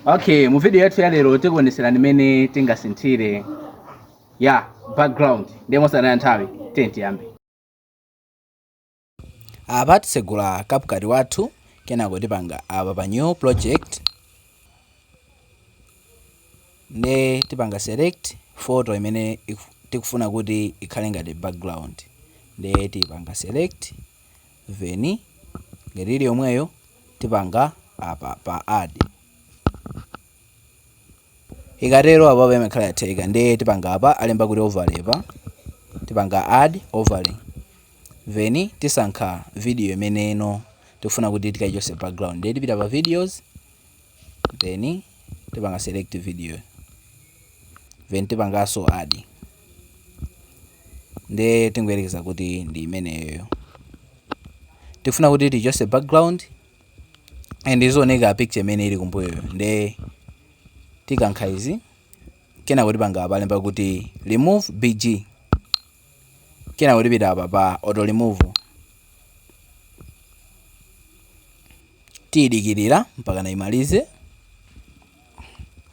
okay mu video yathu ya lero tikuoneserani mmene tingasinthire ya background ndiye mosataya nthawi tiyeni tiyambe apa tisegula CapCut wathu kenako tipanga apa pa new project nde tipanga select photo imene tikufuna kuti ikhale ngati background nde tipanga select then ngati ndi imeneyo tipanga apa pa add ikatero apapa imakhala yatheka ndiye tipanga apa alemba kuti overlay pa tipanga add overlay then tisankha video imene ino tikufuna kuti tikaichose background ndiye tipita pa videos then tipanga select video then tipanganso add nde tingoyerekeza kuti ndi imeneyoyo tifuna kuti tichose background and izioneka picture imene ili kumbuyoyo nde tikankha izi kenako tipanga apa alemba kuti remove bg kenako tipita apa pa auto remove tiyidikirira mpakana imalize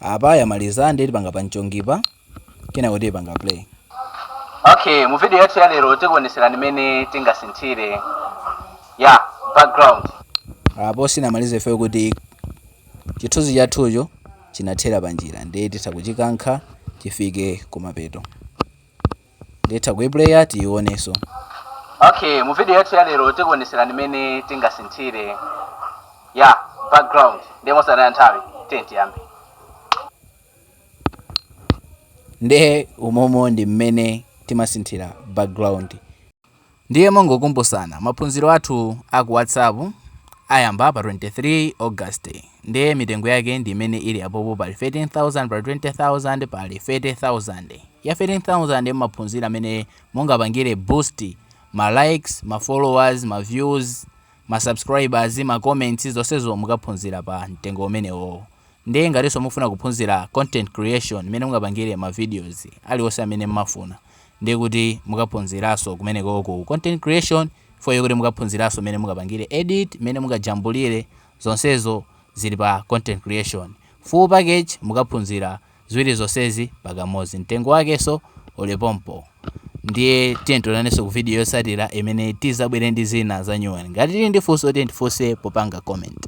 apa yamaliza ndiye tipanga pa mchongipa kenako tiyipanga play okay mu video yathu ya lero tikuoneserani mmene tingasinthire ya background apo sinamalize ife chifukwa choti chithunzi chathucho chinathera panjira ndiye titha kuchikankha chifike kumapeto nde titha kuiplaya tiioneso okay mu video yathu ya lero tikuoneserani mmene tingasinthire ya background ndiye mosataya nthawi tiye tiyambe nde umomo ndi mmene timasinthira background Ndiye mongokumbusana, maphunziro athu a ku WhatsApp ayamba pa 23 August ndiye mitengo yake ndi imene ili apopo pali 13,000, pali 20,000, pali 30,000. Ya 13,000 mumaphunzira mmene mungapangire boost ma likes, ma followers, ma views, ma subscribers, ma comments zonsezo mukaphunzira pa mtengo umenewowo. Ndiye ngatinso mukufuna kuphunzira content creation mmene mungapangire ma videos aliwonse amene mmafuna ndiye kuti mukaphunziraso kumeneko ku content creation fukwa chokuti mukaphunziraso mene mungapangire edit mene mungajambulire zonsezo zili pa content creation full package mukaphunzira ziwiri zonsezi pakamozi mtengo wakeso uli pompo ndiye tiye tionaneso ku video yotsatira imene tizabwere ndi zina za nyuwani ngati tili ndi funso tiye tifunse popanga comment